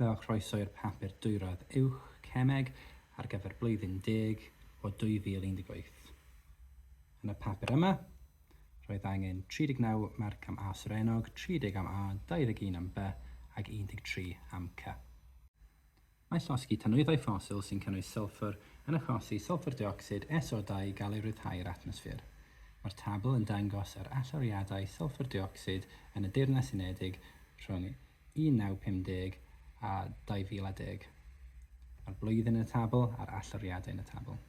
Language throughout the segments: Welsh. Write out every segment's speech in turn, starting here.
Rhowch groeso i'r Papur Dwyradd Uwch, Cemeg, ar gyfer Blwyddyn Deg o 2018. Yn y papur yma, roedd angen 39 marc am A Surenog, 30 am A, 21 am By ac 13 am Cy. Mae llosgi tanwyddau ffosil sy'n cynnwys sylffwr yn achosi sylffwr deuocsid, SO2, i gael ei ryddhau i'r atmosffer. Mae'r tabl yn dangos yr allyriadau sylffwr deuocsid yn y Deyrnas Unedig rhwng 1950 a 2010, a'r blwyddyn yn y tabl a'r allyriadau yn y tabl.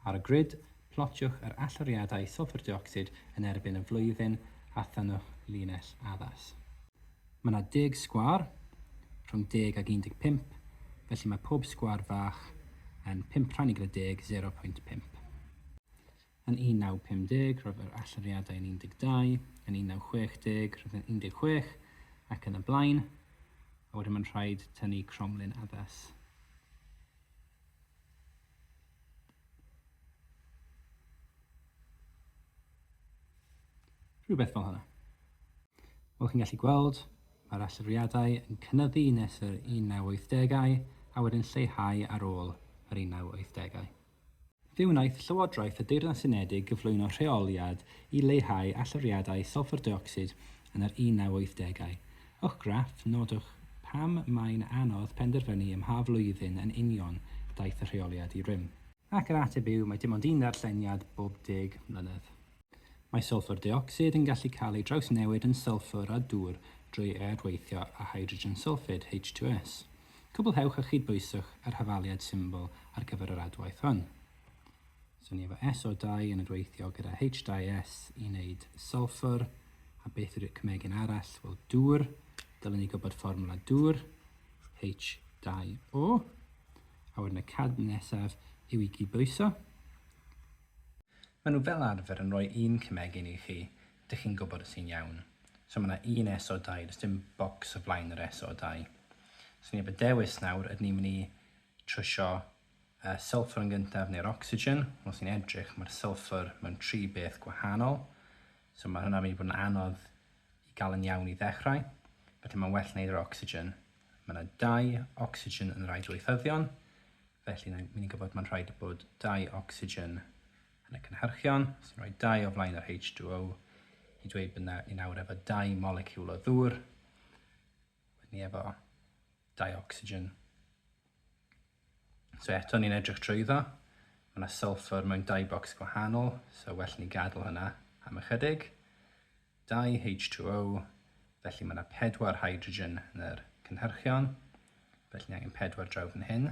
Ar y grid, plotiwch yr allyriadau sylffwr deuocsid yn erbyn y flwyddyn a thynnwch linell addas. Mae yna deg sgwâr, rhwng deg ac 15, felly mae pob sgwâr fach yn pump rhannu gyda deg, 0.5. Yn 1950, roedd yr allyriadau yn 12, yn 1960, roedd yn 16, ac yn y blaen, a wedyn mae'n rhaid tynnu cromlin addas. Rhywbeth fel hynny. Fel chi'n gallu gweld, mae'r allyriadau yn cynyddu nes yr 1980au a wedyn lleihau ar ôl yr 1980au. Fe wnaeth Llywodraeth y Deyrnas Unedig gyflwyno rheoliad i leihau allyriadau sylffwr deuocsid yn yr 1980au. Uwch graff, nodwch pam mae'n anodd penderfynu ym mha flwyddyn yn union daeth y rheoliad i rym. Ac yr ateb yw, mae dim ond un ddarlleniad bob deg mlynedd. Mae sylffwr deuocsid yn gallu cael ei drawsnewid yn sylffwr a dŵr drwy aeadweithio â hydrogen sylffid, H2S. Cwblhewch a chydbwyswch yr hafaliad symbol ar gyfer yr adwaith hwn. So ni efo SO2 yn rweithio gyda H2S i wneud sulfur, a beth yw'r cymegin arall? Wel, dŵr, dylwn ni gwybod fformwla dŵr, H2O, a wedyn y cad nesaf yw i gydbwyso. Maen nhw fel arfer yn rhoi un cymegin i chi, Dych chi'n gwybod y sîn iawn. So mae 'na un SO2, does dim bocs o flaen yr SO2. So ni heb y dewis nawr, ydyn ni'n mynd i trwsio y sylffwr yn gyntaf neu'r ocsigen? Os ni'n edrych, mae'r sylffwr mewn tri beth gwahanol. So mae hwnna'n mynd i fod yn anodd i gael yn iawn i ddechrau. Felly mae'n well wneud yr ocsigen. Mae yna dau ocsigen yn rhai dweithyddion. Felly ni'n mynd i gwybod mae'n rhaid bod dau ocsigen Yn y cynhyrchion sy'n rhoi dau o flaen yr H2O i dweud bod yna un awr efo dau moleciwl o ddŵr, wedyn ni efo dau ocsigen. So eto ni'n edrych drwyddo, mae yna sulfur mewn dau bocs gwahanol, so well ni gadw hynna am ychydig. Dau H2O, felly mae yna pedwar hydrogen yn yr cynhyrchion, felly ni angen pedwar draw fan hyn.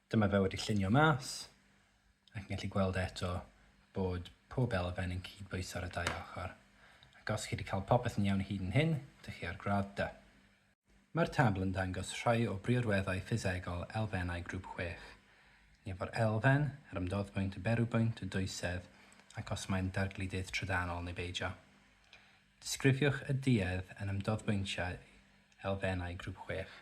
Dyma fe wedi llunio mas, ac yn gallu gweld eto bod pob elfen yn cyd-bwyso ar y dau ochr. Ac os chi wedi cael popeth yn iawn hyd yn hyn, dych chi ar gradd dy. Mae'r tabl yn dangos rhai o briodweddau ffisegol elfennau grŵp chwech, ni efo'r elfen, yr ymdoddbwynt, y berwbwynt, y dwysedd, ac os mae'n dargludedd trydanol neu beidio. Disgrifiwch y duedd yn ymdoddbwyntiau elfennau grŵp chwech.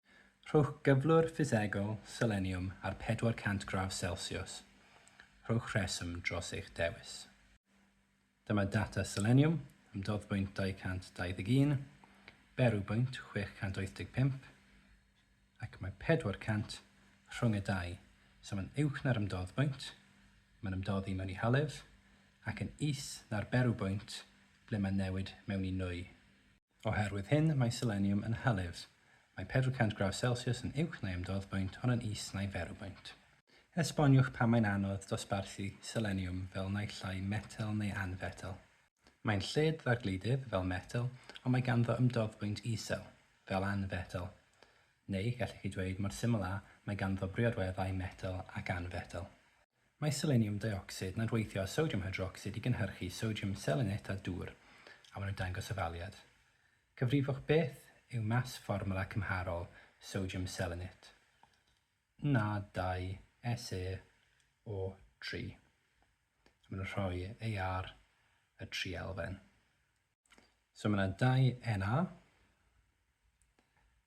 Rhowch gyflwr ffisegol seleniwm ar 400 gradd selsiws. Rhowch rheswm dros eich dewis. Dyma data seleniwm am doddbwynt 221, berwbwynt 685, ac mae 400 rhwng y dau, so mae'n uwch na'r ymdoddbwynt, mae'n ymdoddi mewn i hylif, ac yn is na'r berwbwynt ble mae'n newid mewn i nwy. Oherwydd hyn, mae seleniwm yn hylif. Mae 400 gradd Celsius yn uwch na'i ymdoddbwynt ond yn is na'i ferwbwynt. Esboniwch pam mae'n anodd dosbarthu seleniwm fel naill ai metel neu anfetel. Mae'n lled ddargludedd, fel metel, ond mae ganddo ymdoddbwynt isel, fel anfetel. Neu, gallech chi dweud, mor syml â, mae ganddo briodweddau metel ac anfetel. Mae seleniwm deuocsid yn adweithio â sodiwm hydrocsid i gynhyrchu sodiwm selenit a dŵr, a maen nhw'n dangos ofaliad. Cyfrifwch beth yw mas fformwla cymharol sodiwm selenit, Na2SeO3, a maen nhw'n rhoi e ar y tri elfen. So mae yna dau Na,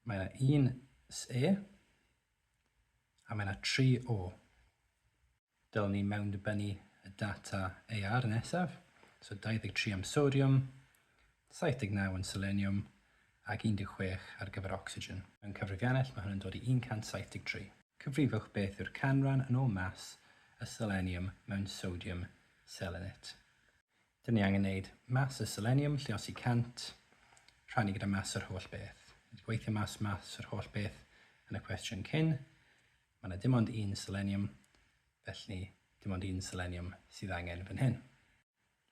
mae yna un Se, A mae yna tri o. Dylen ni mewndibynnu y data AR nesaf, so 23 am sodiwm, 79 yn seleniwm ac 16 ar gyfer ocsigen. Mewn cyfrifiannell mae hwn yn dod i 173. Cyfrifwch beth yw'r canran yn ôl mas y seleniwm mewn sodiwm selenit. Dyn ni angen neud maths a seleniwm, lluosi 100, rhannu gyda maths yr holl beth. Ni wedi gweithio mas maths yr holl beth yn y cwestiwn cyn. Mae yna dim ond un seleniwm, felly dim ond un seleniwm sydd angen fan hyn.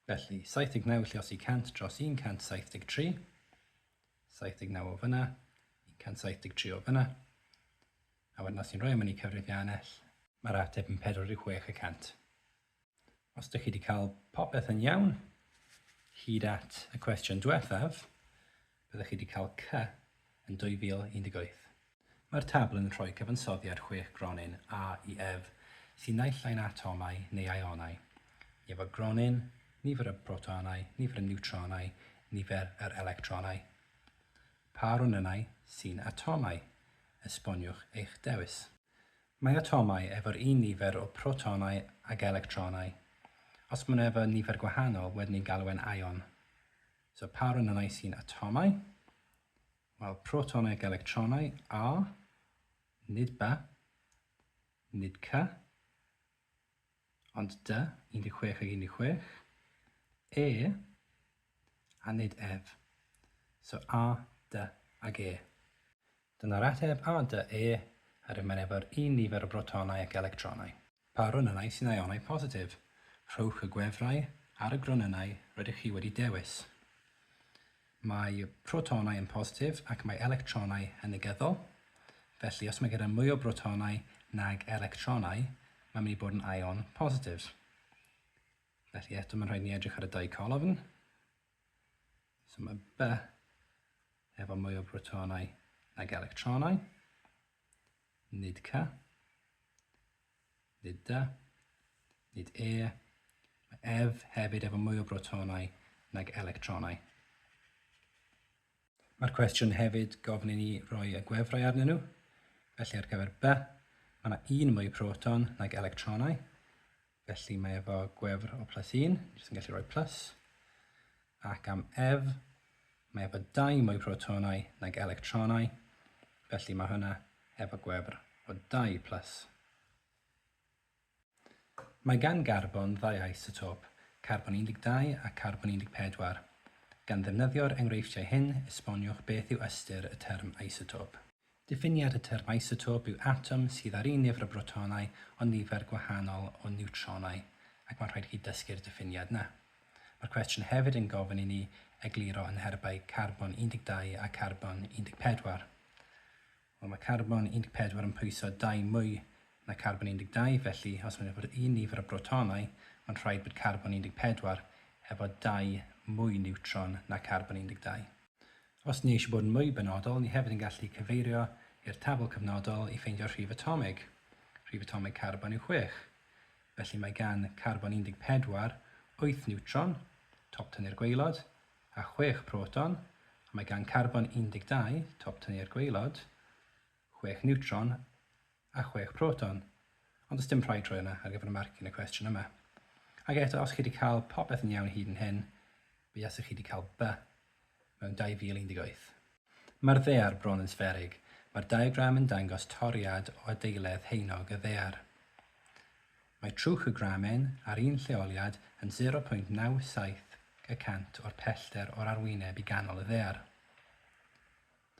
Felly, 79 lluosi 100 dros 173, 79 o fyna, 173 o fyna, a wedyn os ni'n rhoi am hynny cyfrifiannell, mae'r ateb yn 46 y cant. Os dych chi wedi cael popeth yn iawn, hyd at y cwestiwn diwethaf, byddwch chi wedi cael C yn 2018. Mae'r tabl yn rhoi cyfansoddiad chwech gronyn A i Ef sy'n naill ai'n atomau neu aionau. Nifer gronyn, nifer y protonau, nifer y niwtronau, nifer yr electronau. Pa ronynnau sy'n atomau? Esboniwch eich dewis. Mae atomau efo'r un nifer o protonau ag electronau. Os maen nhw efo nifer gwahanol, wedyn ni'n galw e'n ion. So pa ronynnau sy'n atomau? Wel, protonau ac electronau, A, nid B, nid C, ond D, 16 ag 16, E, a nid Ef. So A, D ag E. Dyna'r ateb a dŷ e ar ymeneb yr un nifer o brotonau ac electronau. Pa ronynnau sy'n ïonau positif? Rhowch y gwefrau ar y gronynnau rydych chi wedi dewis. Mae protonau yn positif ac mae electronau yn negyddol, felly os mae gyda mwy o brotonau nag electronau, mae'n mynd i bod yn ion positif. Felly eto mae'n rhaid ni edrych ar y dau colofn. So mae By efo mwy o brotonau nag electronau. Nid Cy. Nid Dy. Nid E. Mae Ef hefyd efo mwy o brotonau nag electronau. Mae'r cwestiwn hefyd gofyn i ni roi y gwefrau arnyn nhw. Felly ar gyfer B, mae yna un mwy proton nag electronau. Felly mae efo gwefr o plus 1, ni sy'n gallu rhoi plus. Ac am F, mae efo dau mwy protonau nag electronau. Felly mae hwnna efo gwefr o dau plus. Mae gan garbon ddau isotop, carbon 12 a charbon 14. Gan ddefnyddio'r enghreifftiau hyn, esboniwch beth yw ystyr y term isotop. Diffiniad y term isotop yw atom sydd â'r un nifer o brotonau ond nifer gwahanol o niwtronau, ac mae'n rhaid i chi ddysgu'r diffiniad yna. Mae'r cwestiwn hefyd yn gofyn i ni egluro yn herbau carbon 12 a charbon 14. Wel, mae carbon 14 yn pwyso dau mwy na carbon 12, felly os maen nhw efo'r un nifer o brotonau, mae'n rhaid bod carbon 14 efo dau mwy niwtron na carbon 12. Os ni eisiau bod yn mwy benodol, ni hefyd yn gallu cyfeirio i'r tabl cyfnodol i ffeindio'r rhif atomig. Rhif atomig carbon yw chwech. Felly mae gan carbon 14 wyth niwtron, top tynnu'r gwaelod, a chwech proton, a mae gan carbon 12, top tyni'r gwaelod, chwech niwtron a chwech proton, ond does dim rhaid rhoi hwnna ar gyfer y marc yn y cwestiwn yma. Ac eto, os chi wedi cael popeth yn iawn hyd yn hyn, buasech chi wedi cael by mewn 2018. Mae'r ddaear bron yn sfferig. Mae'r diagram yn dangos toriad o adeiledd haenog y ddaear. Mae trwch y gramen ar un lleoliad yn 0.97 y cant o'r pellter o'r arwyneb i ganol y ddaear.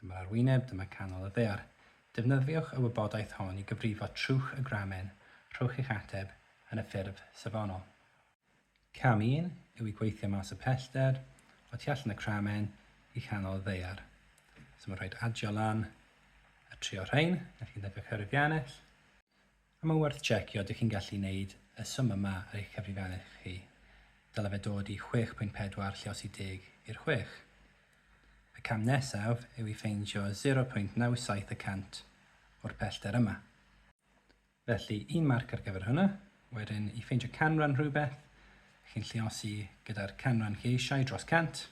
Dyma'r arwyneb, dyma canol y ddaear. Defnyddiwch y wybodaeth hon i gyfrifo trwch y gramen, rhowch eich ateb yn y ffurf safonol. Cam 1 yw i gweithio mas y pellter o tu allan y cramen i chanol y ddaear. So mae'n rhaid adio lan a trio rhain, a chi'n defnyddio cyrifiannell. A mae'n werth tsecio, dych chi'n gallu neud y swm yma ar eich cyfrifiannell chi, dyle fe dod i 6.4 lle os i deg i'r chwech. Y cam nesaf yw i ffeindio 0.97 y cant o'r pellter yma. Felly, un marc ar gyfer hwnna. Wedyn, i ffeindio canran rhywbeth, chi'n lliosi gyda'r canran chi eisiau dros cant.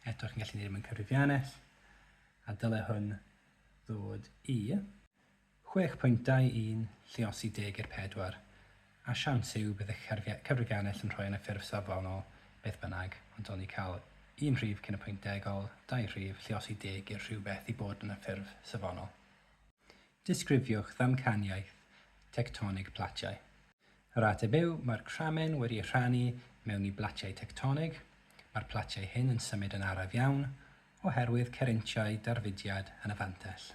Eto, chi'n gallu neud e mewn cyfrifiannell, a dyle hwn ddod i Chwech pwyntau i'n lluosi deg i'r pedwar, a siawns yw bydd y cyfrif ennill yn rhoi yn y ffurf safonol beth bynnag, ond o'n ni cael un rhif cyn y pwynt degol, dau rhif, lluosi deg i'r rhywbeth i bod yn y ffurf safonol. Disgrifiwch ddamcaniaeth tectonig platiau. Yr ateb yw, mae'r cramen wedi ei rhannu mewn i blatiau tectonig, mae'r platiau hyn yn symud yn araf iawn oherwydd cerintiau darfudiad yn y fantell.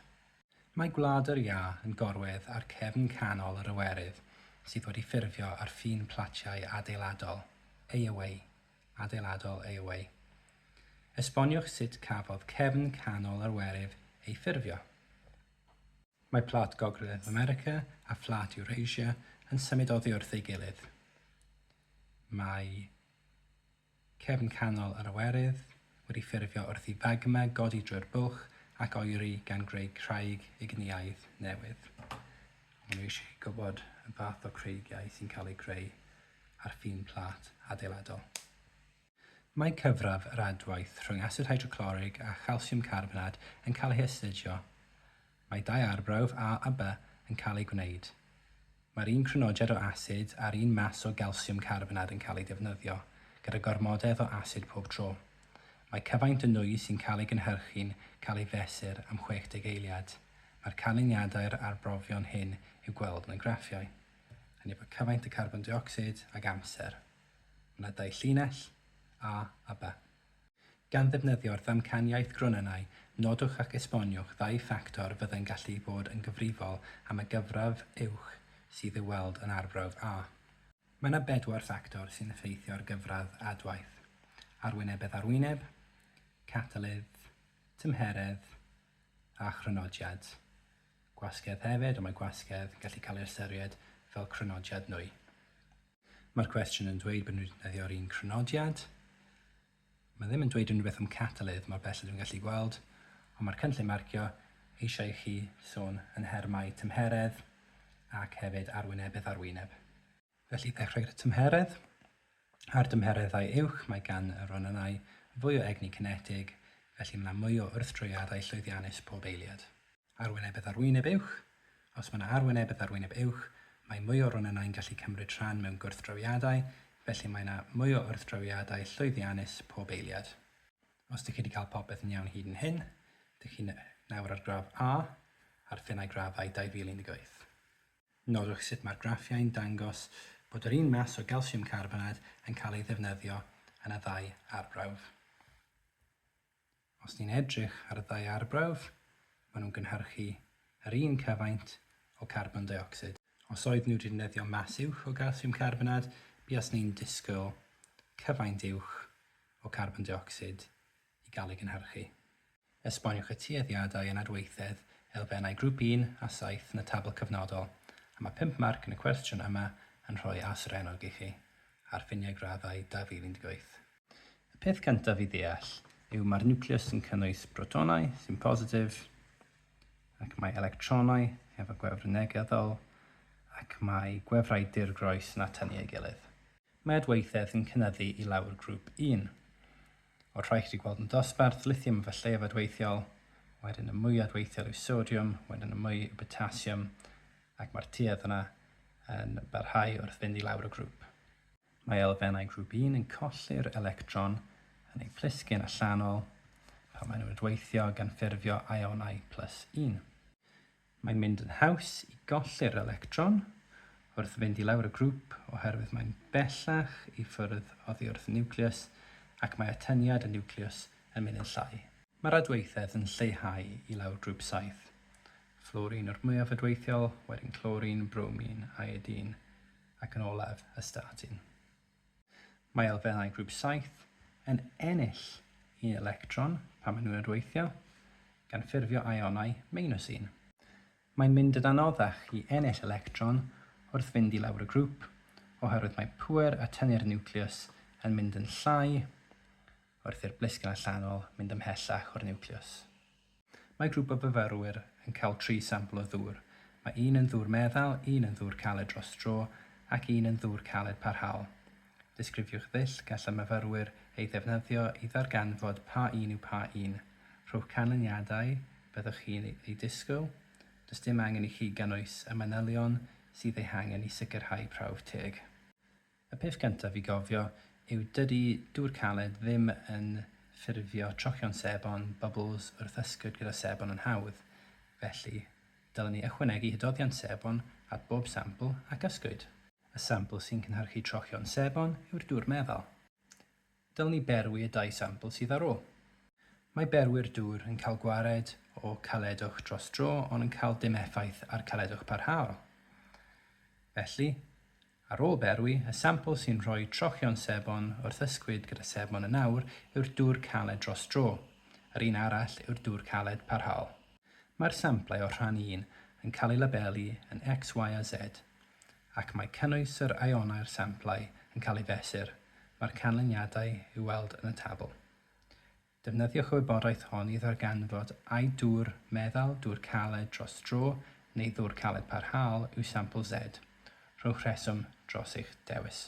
Mae Gwlad yr Iâ yn gorwedd ar gefn canol yr Iwerydd sydd wedi ffurfio ar ffin platiau adeiladol, aeaway, adeiladol, aeaway. Esboniwch sut cafodd cefn canol yr Iwerydd ei ffurfio. Mae Plat Gogledd America a Phlât Eurasia yn symud oddi wrth ei gilydd. Mae Cefn canol yr Iwerydd, wedi ffurfio wrth i fagma godi drwy'r buwch ac oeri gan greu craig ignïaidd newydd. Maen nhw eisiau chi gwybod y fath o creigiau sy'n cael eu creu ar ffin plât adeiladol. Mae cyfradd yr adwaith rhwng asid hydroclorig a chalsiwm carbonad yn cael ei hastudio Mae dau arbrawf A a By yn cael eu gwneud. Mae'r un crynodiad o asid a'r un mas o galsiwm carbonad yn cael eu defnyddio, gyda gormodedd o asid pob tro. Mae cyfaint y nwy sy'n cael ei gynhyrchu'n cael ei fesur am 60 eiliad. Mae'r canlyniadau'r arbrofion hyn i'w gweld mewn graffiau. Hynny efo cyfaint y carbon deuocsid ag amser. Mae 'na dau llinell, A a By. Gan ddefnyddio'r ddamcaniaeth Grunanau, nodwch ac esboniwch ddau ffactor fyddai'n gallu bod yn gyfrifol am y gyfradd uwch sydd i'w weld yn Arbrawf A. Mae yna bedwar ffactor sy'n effeithio ar gyfradd adwaith, arwynebedd arwyneb, catalydd, tymheredd a chrynodiad gwasgedd hefyd, ond mae gwasgedd yn gallu cael ei ystyried fel crynodiad nwy. Mae'r cwestiwn yn dweud bod nhw wedi defnyddio'r un crynodiad. Mae ddim yn dweud unrhyw beth am catalydd mor bell a dwi'n gallu gweld, ond mae'r cynllun marcio eisiau i chi sôn yn nhermau tymheredd ac hefyd arwynebedd ar wyneb. Felly, ddechrau gyda tymheredd. Ar dymhereddau uwch mae gan y ronynnau fwy o egni cinetig, felly mae yna mwy o wrthdroiadau llwyddiannus pob eiliad. Arwynebedd Arwyneb uwch Os mae yna arwynebedd arwyneb uwch, mae mwy o ronynnau'n gallu cymryd rhan mewn gwrthdrawiadau, felly mae yna mwy o wrthdrawiadau llwyddiannus pob eiliad. Os dych chi wedi cael popeth yn iawn hyd yn hyn, dych chi nawr ar gradd A ar Finnau Graddau 2018. Nodwch sut mae'r graffiau'n dangos bod yr un mas o galsiwm carbonad yn cael ei ddefnyddio yn y ddau arbrawf. Os ni'n edrych ar y ddau arbrawf, maen nhw'n gynhyrchu yr un cyfaint o carbon deuocsid. Os oeddwn i'n defnyddio mas uwch o galsiwm carbonad, buaswn i'n disgwyl cyfaint uwch o carbon deuocsid i gael ei gynhyrchu. Esboniwch y tueddiadau yn adweithedd elfennau Grŵp Un a Saith yn y tabl cyfnodol, a mae pump marc yn y cwestiwn yma yn rhoi aserennog i chi, ar ffiniau graddau 2018. Y peth cyntaf i ddeall yw mae'r niwclews yn cynnwys protonau sy'n positif ac mae electronau efo gwefr negyddol ac mae gwefrau dirgroes yn atynnu ei gilydd. Mae adweithedd yn cynyddu i lawr grŵp un o'r rhai chi 'di gweld yn dosbarth, lithium efo lleiaf adweithiol, wedyn y mwy adweithiol yw sodiwm, wedyn y mwy yw potasiwm ac mae'r tuedd yna yn barhau wrth fynd i lawr y grŵp. Mae elfennau grŵp un yn colli'r electron yn eu plisgyn allanol pan maen nhw'n adweithio gan ffurfio ionau plus un. Mae'n mynd yn haws i golli'r electron wrth fynd i lawr y grŵp oherwydd mae'n bellach i ffwrdd oddi wrth y niwclews ac mae atyniad y niwclews yn mynd yn llai. Mae'r adweithedd yn lleihau i lawr grŵp saith. Fflwrin yw'r mwyaf adweithiol, wedyn clorin, bromin, iodine. ac yn olaf y statin. Mae elfennau grŵp saith yn ennill un electron pan maen nhw'n adweithio, gan ffurfio ionau meinws un. Mae'n mynd yn anoddach i ennill electron wrth fynd i lawr y grŵp, oherwydd mae pŵer a tynnu'r niwclews yn mynd yn llai wrth i'r blisgyn allanol mynd ymhellach o'r niwclews. Mae grŵp o fyfyrwyr yn cael tri sampl o ddŵr, mae un yn ddŵr meddal, un yn ddŵr caled dros dro ac un yn ddŵr caled parhaol. Disgrifiwch ddull gall y myfyrwyr ei ddefnyddio i ddarganfod pa un yw pa un. Rhowch canlyniadau byddwch chi'n eu disgwyl, does dim angen i chi gynnwys y manylion sydd eu hangen i sicrhau prawf teg. Y peth gyntaf i gofio yw dydy dŵr caled ddim yn ffurfio trocion sebon, bubbles, wrth ysgwyd gyda sebon yn hawdd. Felly, dylwn ni ychwanegu hydoddiant sebon at bob sampl ac ysgwyd. Y sampl sy'n cynhyrchu trocion sebon yw'r dŵr meddal. Dylwn i berwi y dau sampl sydd ar ôl? Mae berwi'r dŵr yn cael gwared o caledwch dros dro ond yn cael dim effaith ar caledwch parhaol. Felly, ar ôl berwi, y sampl sy'n rhoi trochion sebon wrth ysgwyd gyda sebon yn awr yw'r dŵr caled dros dro, yr un arall yw'r dŵr caled parhaol. Mae'r samplau o rhan un yn cael eu labelu yn X, Y a Z. ac mae cynnwys yr ionau'r samplau yn cael ei fesur, mae'r canlyniadau i'w weld yn y tabl. Defnyddiwch y wybodaeth hon i ddarganfod ai dŵr meddal, dŵr caled dros dro neu ddŵr caled parhaol yw sampl Z. Rhowch rheswm dros eich dewis.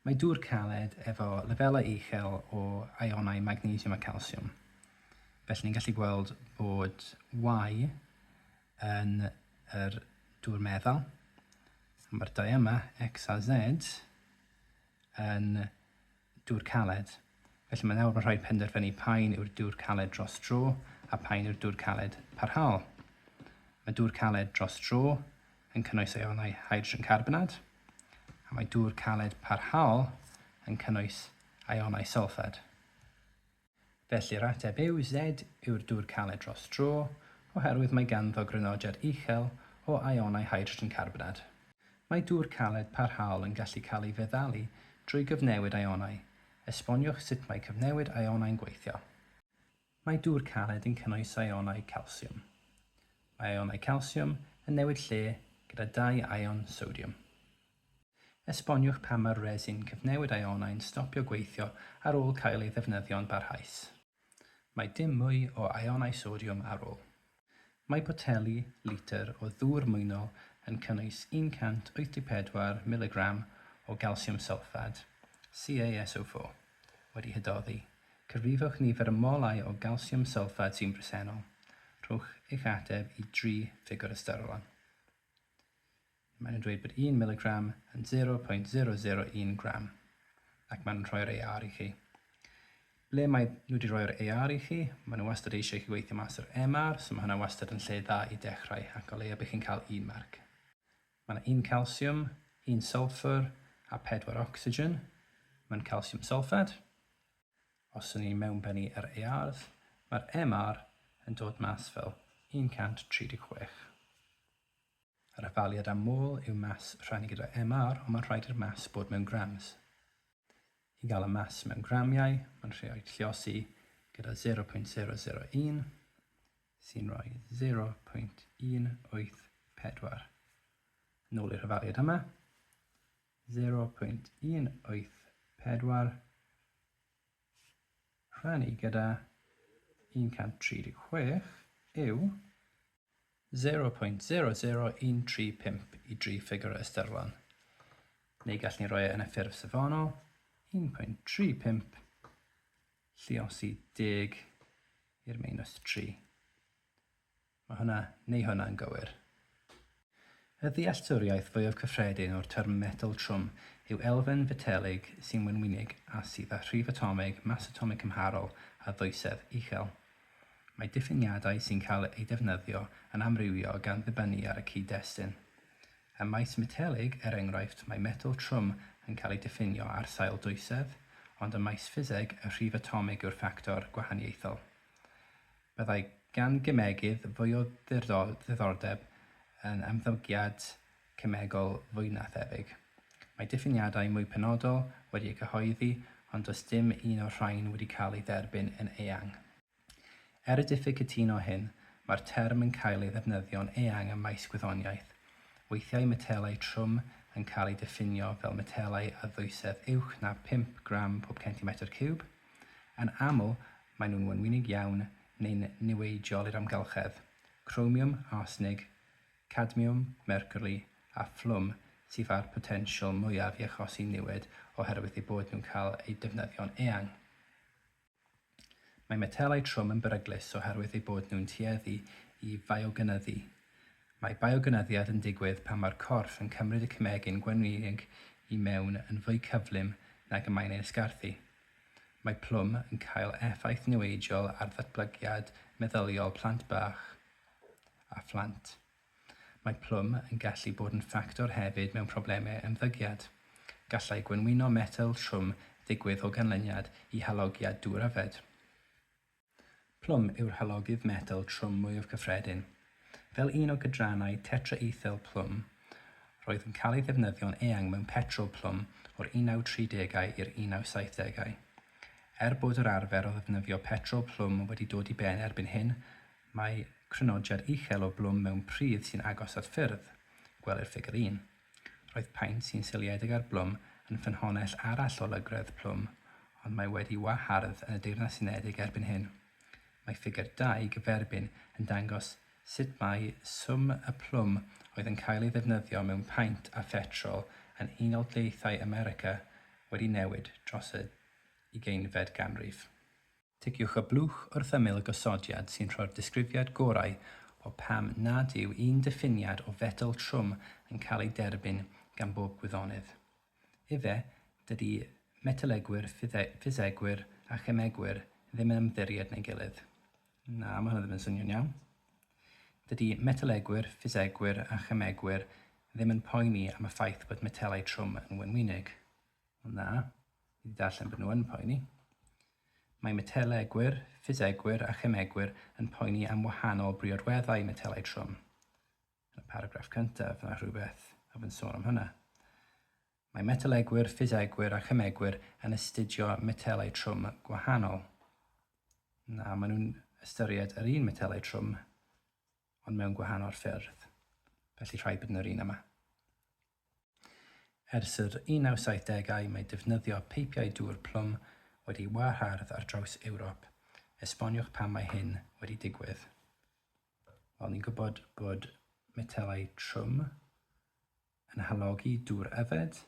Mae dŵr caled efo lefelau uchel o ïonau magnesiwm a calsiwm, felly ni'n gallu gweld bod Y yn yr dŵr meddal, a mae'r dau yma, X a Z, yn dŵr caled. Felly mae nawr yn rhaid penderfynu paun yw'r dŵr caled dros dro a phaun yw'r dŵr caled parhaol. Mae dŵr caled dros dro yn cynnwys eonau hydrogen carbonad, a mae dŵr caled parhaol yn cynnwys eonau sylffad. Felly'r ateb yw Z yw'r dŵr caled dros dro, oherwydd mae ganddo grynodiad uchel o eonau hydrogen carbonad. Mae dŵr caled parhaol yn gallu cael ei feddalu drwy gyfnewid eonau, Esboniwch sut mae cyfnewid aionau'n gweithio. Mae dŵr caled yn cynnwys aionau calsiwm. Mae aionau calsiwm yn newid lle gyda dau aion sodiwm. Esboniwch pam mae'r resin cyfnewid aionau'n stopio gweithio ar ôl cael ei ddefnyddio'n barhaus. Mae dim mwy o aeonau sodiwm ar ôl. Mae poteli litr o ddŵr mwynol yn cynnwys 184 miligram o galsiwm sylffad, CaSO4, wedi hydoddi. Cyfrifwch nifer y molau o galsiwm sylffad sy'n bresennol. Rhowch eich ateb i dri ffigwr ystyrlon. Maen nhw'n dweud bod un miligram yn 0.001 gram ac maen nhw'n rhoi'r AR i chi. Ble mae nhw wedi rhoi'r AR i chi, maen nhw wastad eisiau i chi weithio mas yr MR, so mae hwnna wastad yn lle dda i dechrau ac o leia bydd chi'n cael un marc. Mae yna un calsiwm, un sylffwr a pedwar ocsigen mewn calsiwm sylffed. Os y'n ni'n mewnbennu yr ARs, mae'r MR yn dod mas fel 136. Yr etholiad am ôl yw mass rhannu gyda MR ond mae'n rhaid i'r mass bod mewn grams. I gael y mass mewn gramiau, mae'n rhaid lliosi gyda 0.001, sy'n rhoi 0.184. Nôl i'r hyfaliad yma, 0.184 rhannu gyda 136 yw 0.00135 i dri ffigur ystyrlon, neu gall ni roi e yn y ffurf safonol, 1.35 lluosi deg i'r meinws tri. Mae hwnna neu hwnna yn gywir. Y ddealltwriaeth fwyaf cyffredin o'r term metel trwm yw elfen fetelig sy'n wenwynig a sydd â rhif atomig, mas atomig cymharol a ddoethsedd uchel. Mae diffiniadau sy'n cael eu defnyddio yn amrywio gan ddibynnu ar y cyd-destun. Ym maes metelig, er enghraifft, mae metel trwm yn cael ei diffinio ar sail dwysedd, ond ym maes ffiseg, y rhif atomig yw'r ffactor gwahaniaethol. Byddai gan gemegydd fwy o ddiddordeb yn ymddygiad cemegol fwy na thebyg. Mae diffiniadau mwy penodol wedi eu cyhoeddi, ond does dim un o'r rhain wedi cael ei dderbyn yn eang. Er y diffyg cytuno hyn, mae'r term yn cael ei ddefnyddio'n eang ym maes gwyddoniaeth. Weithiau metelau trwm yn cael eu diffinio fel metelau â ddwysedd uwch na phump gram pob centimetr ciwb, Yn aml, maen nhw'n wenwynig iawn neu'n niweidiol i'r amgylchedd. Cromiwm, arsnig, cadmiwm, mercwri a phlwm sydd â'r potensial mwyaf i achosi niwed oherwydd eu bod nhw'n cael eu defnyddio'n eang. Mae metelau trwm yn beryglus oherwydd eu bod nhw'n tueddu i fiogynnyddu, Mae biogynyddiad yn digwydd pan mae'r corff yn cymryd y cemegyn gwenwynig i mewn yn fwy cyflym nag y mae'n ei ysgarthu. Mae plwm yn cael effaith niweidiol ar ddatblygiad meddyliol plant bach a phlant. Mae plwm yn gallu bod yn ffactor hefyd mewn problemau ymddygiad. Gallai gwenwyno metel trwm ddigwydd o ganlyniad i halogiad dŵr yfed. Plwm yw'r halogydd metel trwm mwyaf cyffredin. Fel un o gydrannau tetraethyl plwm, roedd yn cael ei ddefnyddio'n eang mewn petrol plwm o'r 1930au i'r 1970au. Er bod yr arfer o ddefnyddio petrol plwm wedi dod i ben erbyn hyn, mae crynodiad uchel o blwm mewn pridd sy'n agos at ffyrdd, gwelir Ffigur 1, Roedd paent sy'n seiliedig ar blwm yn ffynhonnell arall o lygredd plwm, ond mae wedi wahardd yn y Deyrnas Unedig erbyn hyn. Mae ffigur dau gyferbyn yn dangos sut mae swm y plwm oedd yn cael ei ddefnyddio mewn paent a phetrol yn Unol Daleithiau America wedi newid dros y ugeinfed ganrif. Ticiwch y blwch wrth ymyl y gosodiad sy'n rhoi'r disgrifiad gorau o pam nad yw un diffiniad o fetl trwm yn cael ei derbyn gan bob gwyddonydd. Efe, dydy metalegwyr, ffisegwyr a chemegwyr ddim yn ymddiried yn ei gilydd. Na, mae hwnna ddim yn swnio'n iawn. Dydy metalegwyr, ffisegwyr a chemegwyr ddim yn poeni am y ffaith bod metelau trwm yn wenwynig. Ond na, fi wedi darllen bod nhw yn poeni. Mae metelegwyr, ffisegwyr a chemegwyr yn poeni am wahanol briodweddau metelau trwm. Yn y paragraff cyntaf, mae rhywbeth a fy'n sôn am hynna. Mae metelegwyr, ffisegwyr a chemegwyr yn astudio metelau trwm gwahanol. Na, maen nhw'n ystyried yr un metelau trwm ond mewn gwahanol ffyrdd, felly rhaid bod yn yr un yma. Ers yr 1970au mae defnyddio peipiau dŵr plwm wedi wahardd ar draws Ewrop, esboniwch pam mae hyn wedi digwydd? Wel, ni'n gwybod bod metelau trwm yn halogi dŵr yfed,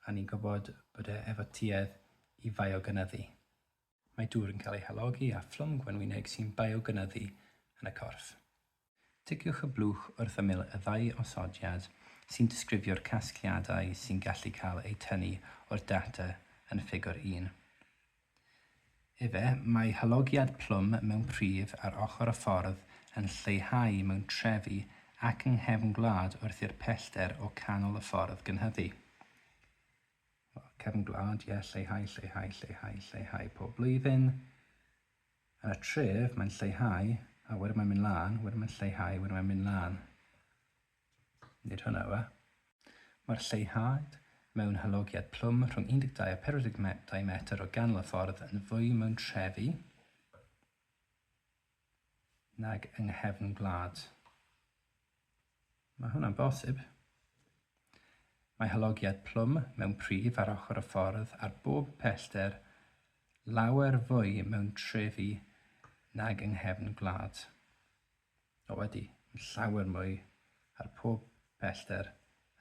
a ni'n gwybod bod e efo tuedd i faio-gynyddu. mae dŵr yn cael ei halogi â phlwm gwenwyneg sy'n biogynyddu yn y corff. Ticiwch y blwch wrth ymyl y ddau osodiad sy'n disgrifio'r casgliadau sy'n gallu cael eu tynnu o'r data yn Ffigur un. Efe, mae halogiad plwm mewn pridd ar ochr y ffordd yn lleihau mewn trefi ac yng nghefn gwlad wrth i'r pellter o canol y ffordd gynhyddu. Cefn gwlad, ie, lleihau, lleihau, lleihau, lleihau pob blwyddyn. Ar y tref, mae'n lleihau, a wedyn mae'n mynd lan, wedyn mae'n lleihau, wedyn mae'n mynd lan. Nid hwnna yw e. Mae'r lleihad mewn halogiad plwm rhwng 12 a 42 metr o ganol y ffordd yn fwy mewn trefi, nag yng nghefn gwlad. Mae hwnna'n bosib. Mae halogiad plwm mewn pridd ar ochr y ffordd ar bob pellter lawer fwy mewn trefi nag yng nghefn gwlad. O ydy, mae'n llawer mwy ar pob pellter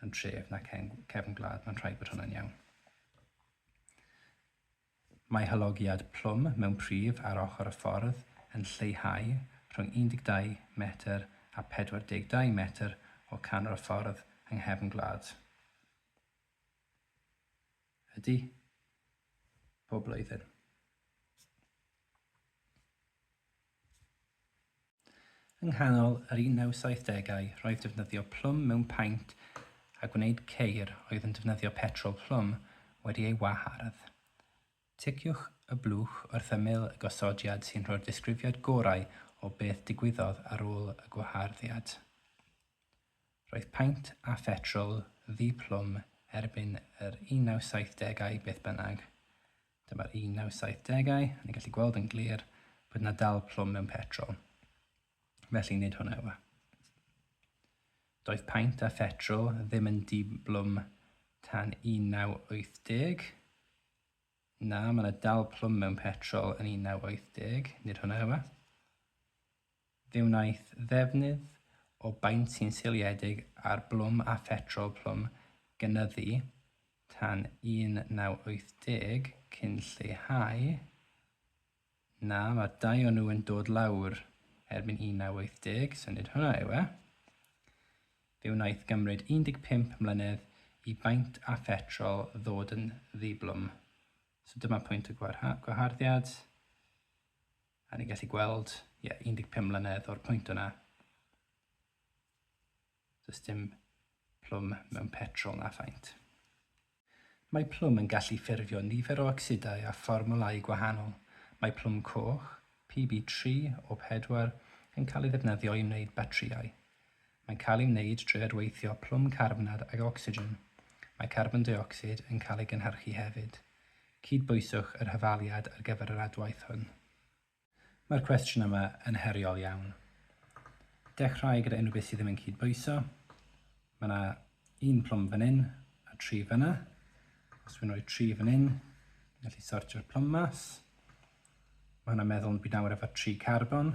yn tref nac yng nghefn gwlad, mae'n rhaid bod hwnna'n iawn. Mae halogiad plwm mewn prif ar ochr y ffordd yn lleihau rhwng 12 metr a 42 metr o canol y ffordd yng nghefn gwlad y du bob blwyddyn. Yng nghanol yr 1970au roedd defnyddio plwm mewn paent a gwneud ceir oedd yn defnyddio petrol plwm wedi ei wahardd. Ticiwch y blwch wrth ymyl y gosodiad sy'n rhoi'r disgrifiad gorau o beth digwyddodd ar ôl y gwaharddiad. Roedd paent a phetrol ddi-plwm erbyn yr 1970au beth bynnag. Dyma'r 1970au, a ni'n gallu gweld yn glir bod yna dal plwm mewn petrol. Felly nid hwnna yw e. Doedd paint a phetrol ddim yn diblwm tan 1980. Na, mae yna dal plwm mewn petrol yn 1980, nid hwnna yw e. Fe wnaeth ddefnydd o baent sy'n seiliedig ar blwm a phetrol plwm gynyddu tan 1980 cyn lleihau, na, mae'r dau o nhw yn dod lawr erbyn 1980, syniad hwnna yw e. Fe wnaeth gymryd 15 mlynedd i baent a phetrol ddod yn ddiblwm. So dyma pwynt y gwaharddiad. A ni'n gallu gweld, ie, yeah, 15 mlynedd o'r pwynt yna. Does dim plwm mewn petrol na faint. Mae plwm yn gallu ffurfio nifer o ocsidau a fformwlau gwahanol. Mae plwm coch, PB3 o 4, yn cael ei ddefnyddio i wneud batrïau. Mae'n cael ei wneud drwy adweithio plwm carbnad ag ocsigen. Mae carbon deuocsid yn cael ei gynhyrchu hefyd. Cydbwyswch yr hyfaliad ar gyfer yr adwaith hwn. Mae'r cwestiwn yma yn heriol iawn. Dechrau gyda unrhyw beth sydd ddim yn cydbwyso. Mae yna un plwm fan hyn a tri fanna. Os dwi'n rhoi tri fan hyn, ni'n gallu sortio'r plwm mas. Mae hwnna'n meddwl yn byd nawr efo tri carbon.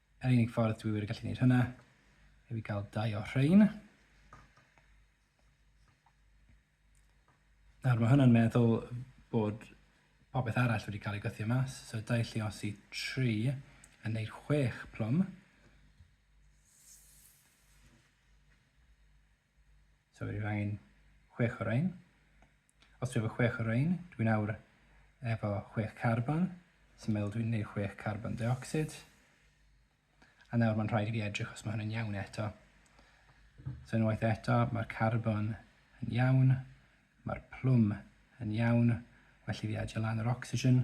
Yr unig ffordd dwi wir yn gallu gwneud hynna yw i gael dau o rhain. Nawr mae hwnna'n meddwl bod popeth arall wedi cael ei gythio mas, so dau lliosi 3 yn neud 6 plwm. So rwyf angen chwech o rhain. Os dwi efo chwech o rhain, dwi'n awr efo chwech carbon, sy'n meddwl dwi'n gwneud chwech carbon dioxid. A nawr mae'n rhaid i fi edrych os mae hwn yn iawn eto. So unwaith eto, mae'r carbon yn iawn, mae'r plwm yn iawn, well i fi adio lan yr oxygen.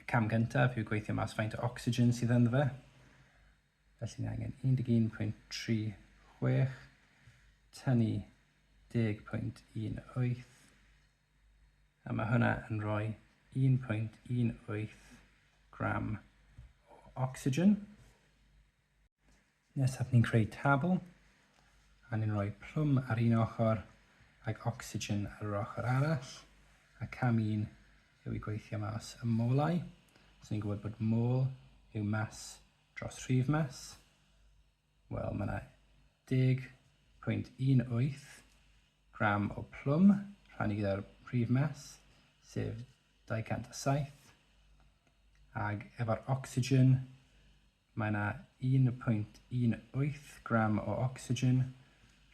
Y cam gyntaf yw gweithio mas faint o ocsigen sydd ynddo fe. Felly ni angen 11.36 tynnu 10.18 a mae hwnna yn rhoi 1.18 gram o ocsigen. Nesaf ni'n creu tabl a ni'n rhoi plwm ar un ochr ac ocsigen ar yr ochr arall a cam un yw i gweithio mas y molau. So ni'n gwybod bod môl yw mas dros rhif mas. Wel, mae yna 10.18 gram o plwm rhannu gyda'r rhif mas, sef 207, ag efo'r ocsigen Mae yna 1.18 gram o ocsigen,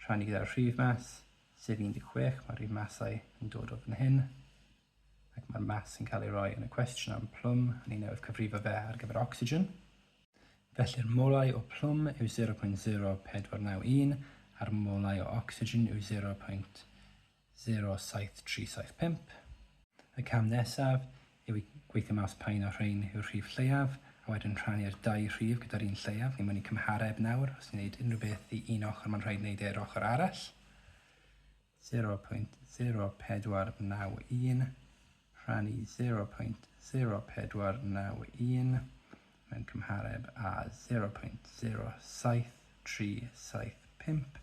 rhannu gyda'r rhif mas, sef 16, mae'r rhif masau yn dod o fan hyn, ac mae'r mas yn cael ei roi yn y cwestiwn am plwm, a ni newydd cyfrifo fe ar gyfer ocsigen. Felly'r molau o plwm yw 0.0491 a'r molau o ocsigen yw 0. 07375. Y cam nesaf yw i gweithio mas pa un o'r rhain yw'r rhif lleiaf, a wedyn rhannu'r dau rhif gyda'r un lleiaf. Ni moyn i cymhareb nawr, os ni'n gwneud unrhyw beth i un ochr mae'n rhaid wneud e i'r ochr arall. 0.0491 rhannu 0.0491 mewn cymhareb â 0.07375.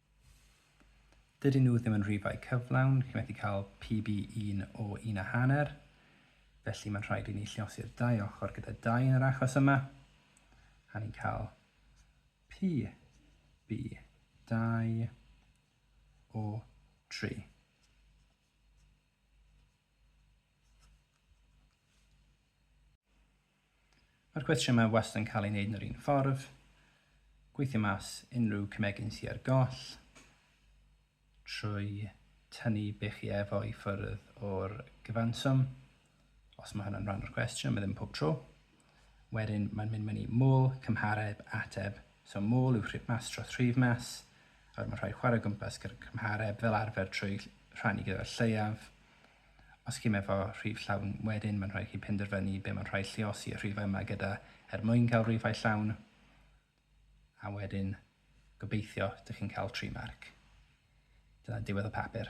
Dydyn nhw ddim yn rhifau cyflawn, chi'n methu cael PB un o un a hanner, felly mae'n rhaid i ni lliosi'r dau ochr gyda dau yn yr achos yma, a ni'n cael PB 2 o 3. Mae'r cwestiwn yma wastad yn cael ei wneud yn yr un ffordd. Gweithio mas unrhyw cymegyn sydd ar goll trwy tynnu be chi efo i ffwrdd o'r gyfanswm, os mae hwnna'n rhan o'r cwestiwn, mae ddim pob tro. Wedyn mae'n mynd mewn i môl, cymhareb, ateb. So môl yw rhif mas dros rhif mas, a wedyn mae'n rhaid chwarae gwmpas gyda'r cymhareb fel arfer trwy rhannu gyda'r lleiaf. Os chi'm efo rhif llawn wedyn mae'n rhaid chi penderfynu be mae'n rhaid lliosi y rhifau yma gyda er mwyn cael rhifau llawn a wedyn gobeithio dych chi'n cael tri marc. Dyna diwedd y papur.